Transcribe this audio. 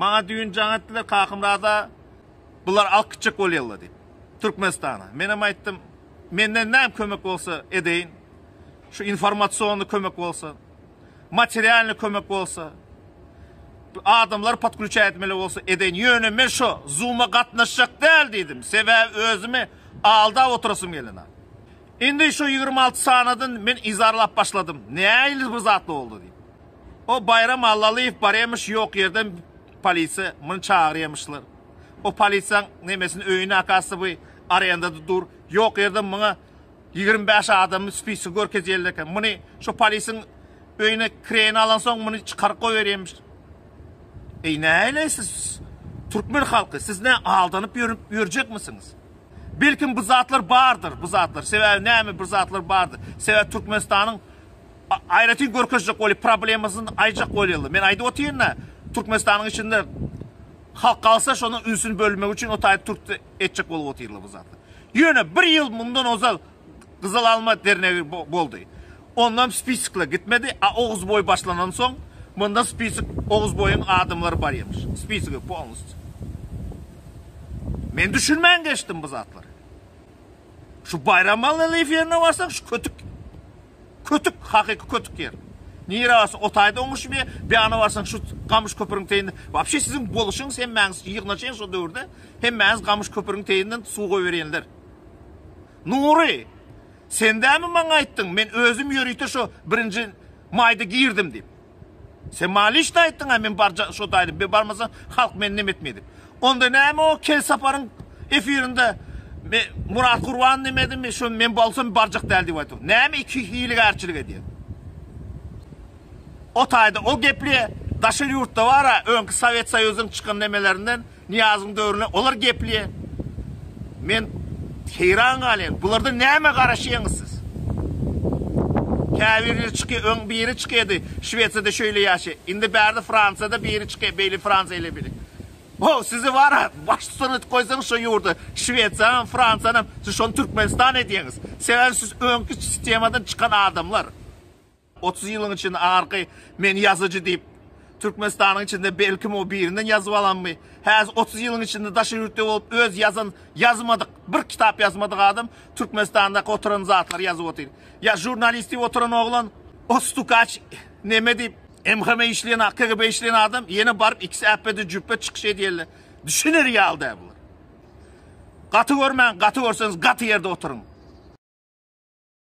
Maňa düýn jaň etdiler Kakymyrada bular alk gitjek bolýarlar diýip. Türkmenistana. Men hem aýtdym, menden näme kömek bolsa edeýin. Şu informasiony kömek bolsa, materialny kömek bolsa, adamlar podklüçä etmeli bolsa edeýin. Ýöne men şu Zoom-a gatnaşjak däl diýdim. Sebäbi özümi aldap oturasym gelena. Indi şu 26 sanadan men izarlap başladym. Nähili bir zat boldy diýip. O Baýram Allalyýew barýamyş ýok ýerden polisiýa muny çagyrýamyşlar. O polisiýaň nemesini öýüni akasy bu arendada dur. Ýok ýerden muňa ýigrimi bäş adamyň spisigi görkezýärler eken. Muny şo polisiň öýüne kireýine alansoň muny çykaryp goýberýämiş. Eý näleý siz türkmen halky siz nä aldanyp ýörüp ýörjekmisiňiz? Belkim bu zatlar bardyr bu zatlar sebäbi näme bir zatlar bardyr sebäbi Türkmenistanyň Aýratyn görkezjek bolýar, problemasyny aýjak bolýarlar. Men aýdyp otyryn-da, Türkmenistanyň içinde halk galsa şonuň ünsüni bölmegi üçin o taýy türk etjek bolup otyrlar bu zatlar. Ýöne bir ýyl mundan ozal Gyzyl alma dernegi boldy. Ondan spiskler gitmedi, a Oguzboý başlandan soň munda spisik Oguzboýuň adamlary barýamyş. Spisigi polnusty. Men düşünmän geçdim bu zatlary. Şu Baýramaly Lifýerine barsaň şu kötük Kötük, hakyky kötük ýer. Nire barsaň otaýda oňuşmýa, beana barsaň şu gamyş köpüriň teýinde. Wapşe siziň boluşyňyz hemmäňiz ýygnaşyň şo döwürde, hemmäňiz gamyş köpüriň teýinden suw goýberýenler. Nury, sendämi maňa aýtdyň, men özüm ýörite şo birinji maýda girdim diýip. Sen maňa lişni aýtdyňa men barja şo daýdym be barmasam halk meni neme etmey dip. Onda näme o kel saparyň efirinde me Murat Gurban neme edimi şo men bolsam barjak däl dip aýtdyň. Näme iki hiligärçilik edýäň. O taýda o gepli daşary ýurtda bara öňki Sowet Soýuzyň çykan nemelerinden Nyýazyň döwrüne olar geplýä. Men heýran galýan. Bulardan näme garaşýaňyz siz? Käbirleri çyky öň biri çykydy. Şwesiýada şöýle ýaşy. Indi bärde Fransiýada biri çyky. Beýle Fransiýa ile bile. Wow, sizi wara baştutan edip goýsaňyz şo ýurda. Şwesiýanam, Fransiýanam siz şony Türkmenistan edýäňiz. Sebäbi siz öňki sistemadan çykan adamlar. Otuz ýylyň içinde arky men ýazyjy diýip, Türkmenistanyň içinde belkim o birinden ýazyp alanmy? Häzir otuz ýylyň içinde daşary ýurtda bolup öz ýazan, ýazmadyk, bir kitap ýazmadyk adam Türkmenistandaky oturan zatlary ýazyp otyr. Ýa žurnalist diýip oturan oglan o stukaç neme diýip, MHM-e işleýän a, KGB-e işleýän adam ýene baryp ikisi äpbede jüpbe çykyş edýärler. Düşüner ýaly däl bular. Gaty görmäň, gaty görseňiz gaty ýerde oturyň.